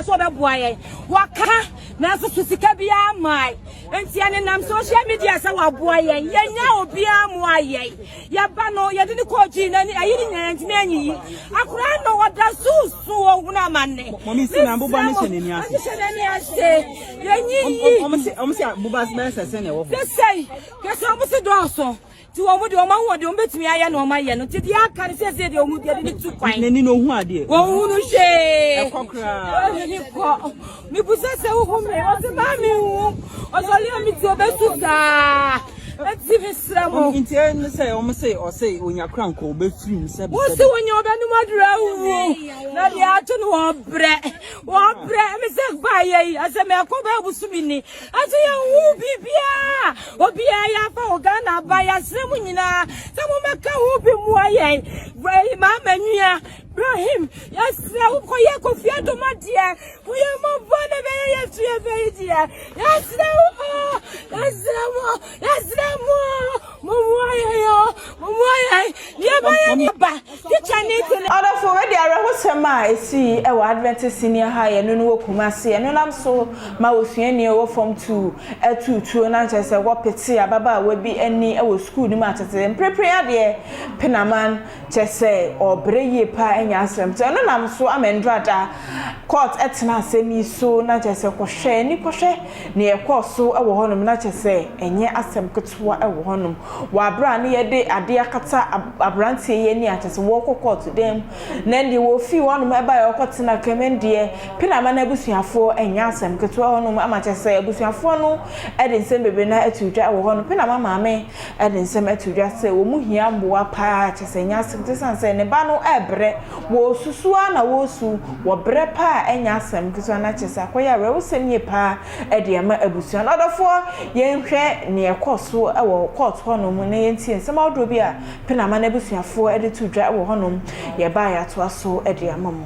sɛ ɔbɛboa yɛn wɔka nanso so sika biara mmae nti ɛnenam social media sɛ wɔaboa yɛn yɛnya obiara mu ayɛn yɛba no yɛde ne kɔɔ gyii n'ani ayi ne nyinaa ntumi anyiyi akora no ɔda so so ɔhunu amanne mɔmisi na boba ne hyɛ n'ani ase hyɛ n'ani ase yɛnyiyi ɔmo se ɔmo se boba bɛyɛ sɛ sɛ na ɛwɔ hɔ kɛsɛ kɛsɛ ɔmo se dɔɔso Nti wɔn deɛ wɔn ahoɔden wɔn bɛtumi ayɛ na wɔn ayɛ no nti deɛ aka no sɛsɛ deɛ wɔn deɛ de tu kwan. N'ani na ohun adeɛ. Wɔn hu no hwee. Ɛkɔ koraa. N'ani kɔ. Mibusa sɛ wohu mi ɔsɛ maa mi hu ɔsɔre a mi ti obesu saa. Eti mi srɛ mo. Nti ɛnu sɛ wɔn sɛ ɔsɛ onya kura nkɔ obefiri mu sɛbi sɛbi. Wɔn sɛ wɔnya ɔbɛnum adura wuwu na deɛ ato no wɔn brɛ wɔn brɛ mi sɛ gba ayɛ yi asɛ mi akɔ bɛ abusu mi ni. Aso yɛn hu biribiara obiara yɛ afa wɔ Ghana aba yɛasrɛ mu nyinaa sɛ mommɛka ho bi mmoa yɛn bɛyi maama nua Ibrahim yɛsrɛ wo kɔyɛ Kofi Adoma deɛ mo yɛ mmɔbɔ na bɛyɛ yɛsu yɛfɛ yi deɛ yɛsrɛ wo oo yɛsrɛ wo Yɛsrɛ mo mommoa yɛn o, mommoa yɛn na yɛbɛyɛ ne ba tikya ne kunu. Ɔdɔfo, wei de awerɛhosɛm a esii wɔ Adventist Senior High ɛno no wɔ Kumasi ɛno nam so ma osuani a ɔwɔ fam tuu tuu tuo na nkyerɛ sɛ wɔpetee ababaawa bi ani wɔ sukuu no mu atetee mprepren adeɛ penaman Kyɛ sɛ ɔɔbrɛ yie paa anya asɛm. Nti ɔno nam so ama Ndrada court tena asɛm yi so na kyerɛ sɛ kɔhwɛ ani kɔhwɛ nea ɛkɔɔ so wɔ hɔ nom na kyerɛ sɛ ɛnyɛ asɛm ketewa wɔ hɔ nom. Wɔ aberɛ a ne yɛde adeɛ akata abranteɛ yi ani a kyerɛ sɛ wɔɔkɔ court dan mu na ɛndeɛ wɔɔfiri hɔ nom baeɛ ɔɔkɔ tena ka mu ɛndeɛ Penama no abusuafoɔ ɛnyɛ asɛm ketewa wɔ hɔ nom ama kyerɛ sɛ abusuafoɔ no de nsɛm bebree no ara ato dwa wɔ hɔ nom. Penama maame. de nsɛm ato dwa sɛ wɔn hia mmoa paa, kyerɛ sɛ ɛnyɛ asɛm, esiane sɛ ne ba no rebrɛ, wɔresusu ara na wɔresu, wɔbrɛ paa a ɛnyɛ asɛm ketewa, na kyerɛ sɛ akɔyɛ awerɛhosɛm yie paa de ama abusua no. Ɔdɔfoɔ, yɛnhwɛ nea ɛkɔɔ so wɔ kɔɔto hɔnom na yɛntie nsɛm ahodoɔ bi a Penama n'abusuafoɔ de to dwa wɔ hɔnom. Yɛba a yɛatoa so de ama mo.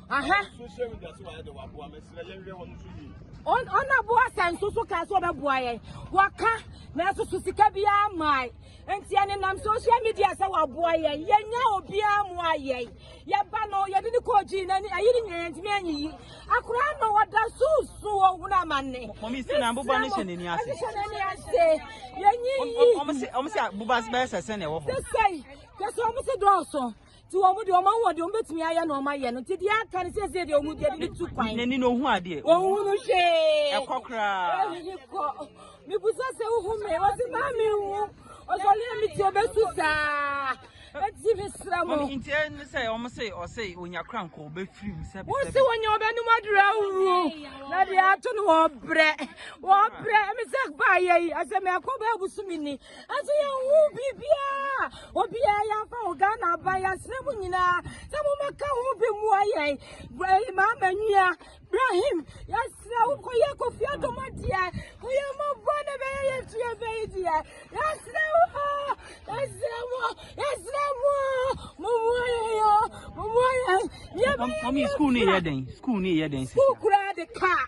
aha social media so wayɛ de waboa mɛsrɛ yɛnhwɛ wɔn nso yie ɔna boa sɛ nso so kaa sɛ ɔbɛboa yɛn waka nanso so sika biara mmae nti ɛne nam social media sɛ waboa yɛn yɛnya obiara mu ayɛn yɛba no yɛde ne kɔɔ gyii n'ani ayi ne nyinaa yɛntumi anyiyi akora no wɔda susu ɔhunu amanne mɔmi sɛ na boba no hyɛ n'ani ase hyɛ n'ani ase yɛnyiyi ɔmo sɛ ɔmo sɛ boba bɛyɛ sɛ sɛ na ɛwɔ hɔ sɛ sɛ yɛsɛ ɔmo sɛ dɔɔso Ti wɔn deɛ wɔn ahoɔden wɔn bɛtumi ayɛ na wɔn ayɛ no nti deɛ aka no sɛsɛ deɛ wɔn deɛ de tu kwan. N'ani na ohun adeɛ. Ohun no hwee. Ɛkɔ koraa. Ɛyi kɔ. Mibusa sɛ ohun mi wɔsi maa mi hu ɔsɔre mi ti obesu saa. Eti mi sra mo. Mami nti ɛne sɛ wɔn se ɔse onya kora nkɔ obefiri mu sɛbi sɛbi. Wosi wɔnyɛ ɔbɛnum aduru awuru na deɛ ato no wɔbrɛ wɔbrɛ ɛmi sɛ baa yɛ yi ɛsɛ mɛ kɔ bɛ abusumi ni. Ɛso yɛn ho biribiara obiara yɛn afa wɔ Ghana aba yɛn asrɛ mu nyinaa sɛ mo bɛka ho bi mu ayɛ ɛyi maa ma nua Ibrahim yɛsrɛ wo kɔ yɛ kofi adom adeɛ kɔ yɛ mo bɔ na bɛyɛ yɛ tuo bɛyi deɛ yɛsrɛ wo yɛsrɛ mo yɛsrɛ mo mo mu ayɛ yɛ mo mu ayɛ yɛ bɛyɛ yɛ kura de kaa.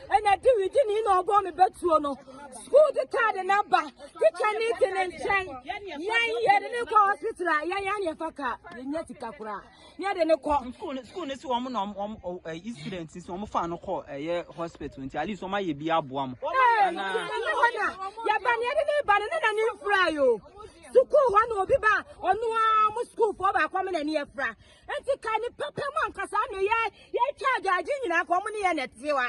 ɛna diwidi ni na ɔbɔ me bɛtuo no sukuu de kaade no aba tikya ne te ne nkyɛn yɛn yɛde ne kɔ hospital a yɛn yɛn yɛfa ka yɛnya sika koraa ne yɛde ne kɔ sukuu no si wɔn na wɔn ɛyi student si wɔn fa no kɔ ɛyɛ hospital nti at least wɔn ayɛ bi aboa mo. ɛɛ yɛba ne yɛde ne ba no ne na ne nfura yi o sukuu hɔ na obi ba ɔno ara mo sukuufoɔ baako mo na ne yɛfura Enti ka ne pɛpɛ mu ankasa na yɛ yɛtwa agyaagye nyinaa ka wɔn ne yɛ na ɛte wa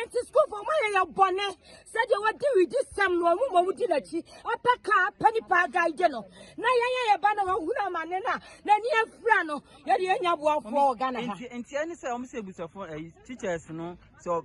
nti sukuufo wɔn ayɛ yɛ bɔne sɛdeɛ wɔde widi sɛm no wɔn ma wɔdi n'akyi apɛ ka apɛ nipa agaagye no na yɛn ayɛ ba na wɔhunu amane no a n'ani afira no yɛde yɛnya boafoɔ wɔ ghana ha. nti ɛne sɛ wɔn sɛ abusafo ɛyi eh, teachers no sɛ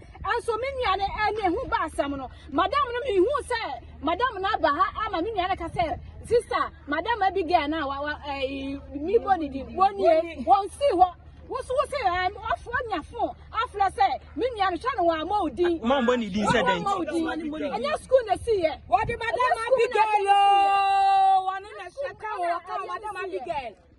Nso me nua no ɛne ɛho ba asɛm no madam no mehu sɛ madam no aba ha ama me nua no ka sɛ sista madam Abigail no a wa wa ɛyi mi bɔ ne din wɔnie wɔn si hɔ woso wo sɛ ɛm ɔfo nya fo afra sɛ me nua no hwɛ no wɔn ama odin wɔn ama odin ɛnyɛ sukuu na si yɛ wɔde madam Abigail yoo wɔne na hyɛ ka wɔ ka madam Abigail.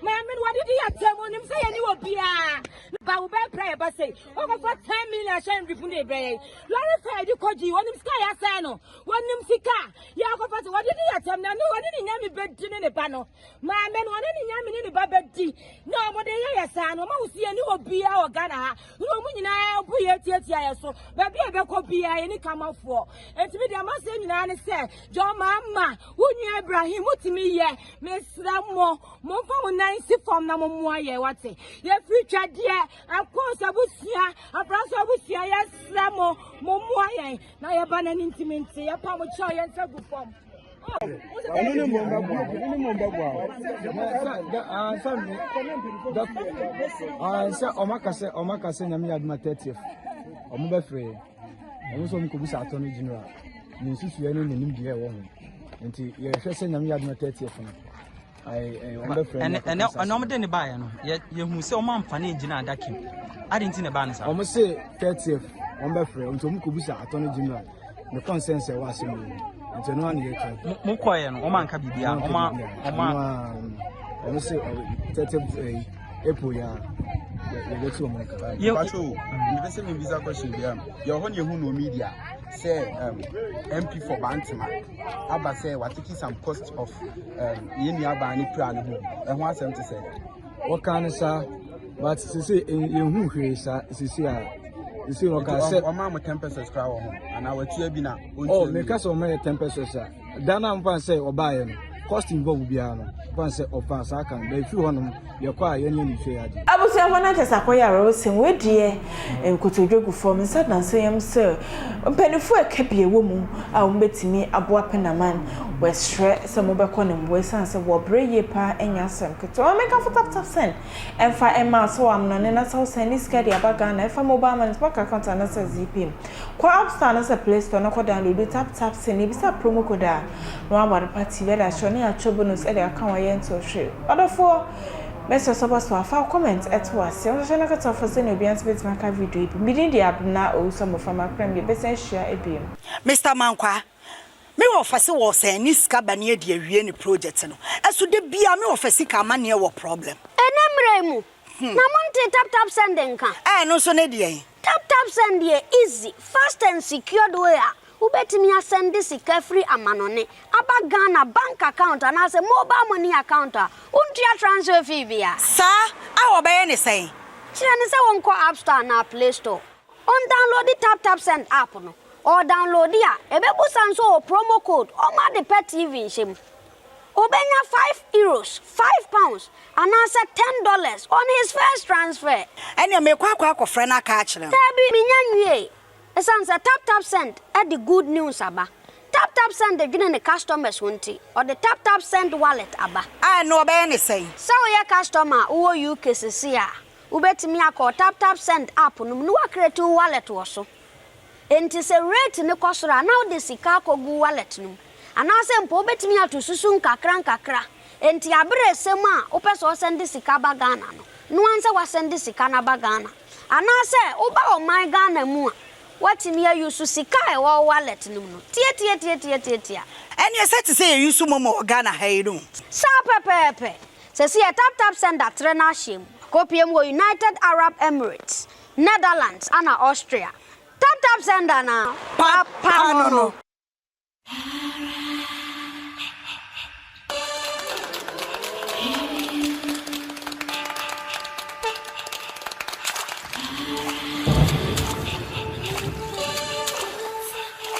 Maame no wɔde di atam onim sɛ yɛne wɔ biara ba wo bɛɛ pra yɛ ba sɛ wɔkɔfa ten million ahyɛ nrifu ne ebrɛ yɛ lɔre fɛ yɛde kɔgye wɔnim sika yɛ asɛe no wɔnim sika yɛ akɔfa sɛ wɔde di atam na ne wɔne ne nyame bɛdi ne ne ba no maame no wɔne ne nyame ne ne ba bɛdi na wɔde yɛ yɛ saa no wɔn ahosuo yɛne wɔ biara wɔ Ghana ha na wɔn nyinaa bo yɛ tiatia yɛ so baabi a yɛbɛkɔ biara yɛ ne kamafoɔ nti mi deɛ maseɛ nyinaa ne sɛ jɔn maa ma wo nua ibrahim motumi yɛ mesrɛ mo momfa mo nan si fam na mommoa yɛ wate yɛfiri twadeɛ ɛkɔ sɛ abusua abrasɛ abusua yɛsrɛ mo mommoa yɛn na yɛba no ani ntimi nti yɛpa mo kyɛw yɛn nsa gu fam ɛno ne mmom bɛboa ɛno ne mmom bɛboa o. ansa mi ansa ɔmo aka sɛ ɔmo aka sɛ nyame yɛ aduma thirtieth ɔmo bɛ fɛ ɔmo sɛ ɔmo kɔ bisa atɔ no general ne nsusuɛ ne ne nimdeɛ ɛwɔ ho nti yɛhwɛ sɛ nyame yɛ aduma thirtieth no. ɛnɛ ɔmo de ne baayɛ no yɛhu sɛ ɔmo amfa ne ngyina adaka mu adi nti na ɛbaa ne saa. ɔmo se thirtieth ɔmo bɛfrɛ nti ɔmo kɔ bisa attorney general ne consensus ɛwɔ ase mu nti ɛno ano yɛ twa. mo kɔɛ no ɔmo anka biribi a ɔmo ɔmo. ɔmo se thirtieth eh, april yɛ a yɛbɛ ti ɔmo nka. yɛ mpatsɔ o mbɛ sɛ mi bisa question bi a yɛ ɔhɔ na ehu na omi di a sɛ mp for bantama. aba sɛ watete some cost of um, yɛn nuabaa ne pira no ho ɛho asɛm te sɛ wɔka no saa but sese yɛhu hwee saa sese a sese no ɔka sɛ ɔma mo ten pesos kora wɔ ho anaa watua bi na ɔntua oh, bi meka sɛ ɔma yɛ ten pesos a da no a mfa sɛ ɔbaeɛ no cost involve biara no mfa sɛ ɔfa saa kan na ɛfiri hɔnom Yɛkɔ a yɛnyɛ no fei ade. Abusuafo no ankasa akɔyare wo sen wo deɛ. Nkotodwe gu fam, nsa da nso yam sɛ mpanyinfo a ɛka bi wɔ mu a wɔbɛtumi aboa Penaman. Wɔsrɛ sɛ mobɛkɔ no mmoa ɛsiane sɛ wɔbrɛ yie paa ɛnyɛ asɛm ketewa. Maame ka fotafota sɛn ɛmfa mma asaw amena ne n'asaw sɛn ne sika de aba Ghana ɛfa mobile money, bank account anaasɛ adze yi pɛ mu. Kɔ app store anaasɛ play store na kɔ downloadu tap tap send na bisa promo code a na wama do pa TV ɛde akyerɛ ne atwa bonus ɛde aka ho ɛyɛ ntew hwee ɔdɔfoɔ mɛsrɛ sɛ ɔba so a fa wo comment ɛto aseɛ na hyɛ na kata ɔfɔ sɛnea obiara nso bɛtumi aka video yi bi me din de Abena Owusu Aboframa Prem yɛbɛsan ahyia biom. Mister Mankwaa, me wɔ ɔfɛ se wɔ sɛn ne sika bɛne adi awie ne project no ɛso da biaa me wɔ ɔfɛ sika amaneɛ wɔ problem. Ɛnɛ mmerɛ yi mu na mo ntee tap tap send nka. Ɛɛ ɛno nso ne deɛn? Tap Tap Send yɛ easy, fast and secured way a wobɛtumi asɛnde sika firi amanɔne aba Ghana bank account anaasɛ mobile money account a wontua transfer fee bia. Saa a wɔbɛyɛ ne sɛn? Kyerɛ no sɛ ɔnkɔ App Store anaa Play Store, ɔndownloadi Tap Tap Send app no, ɔredownloadi a, ɛbɛbusa no sɛ ɔwɔ promo code, ɔmma ade pɛ TV nhyɛ mu. Obenya five euros, five pounds, anaasɛ ten dollars on his first transfer. Ɛnneɛ merekɔ akɔ akɔfrɛ no aka akyerɛ no. Daabi, mennya nwiei. Esiane sɛ TapTapSend de good news aba, TapTapSend dwene ne customers ho nti, ɔde TapTapSend Wallet aba. A, ɛnneɛ wɔbɛyɛ no sɛn? Sɛ woyɛ customer a wowɔ UK seesei a, wobɛtumi akɔ TapTapSend app no mu na woacreate wo wallet wɔ so. Enti sɛ rate no kɔ soro a, na wode sika akɔgu wallet no mu. Anaasɛ mpo wobɛtumi ato susu nkakrankakra. Enti aberɛ resɛm a wopɛ sɛ ɔsɛnde sika ba Ghana no, noa nsɛ wasɛnde sika no aba Ghana. Anaasɛ woba ɔman Ghana mu a, woatumi a use sika a ɛwɔ wo wallet no mu no. Tiatiatiatiatiatia. Ɛneɛ sɛ te sɛ yɛ use momo wɔ Ghana ha yi no. Saa pɛpɛɛpɛ. Sɛsi yɛ taptapsend atrɛ no ahyɛm. Akɔpie mu wɔ United Arab Emirates. Netherlands ana Austria? Tap tap send ana papa no no.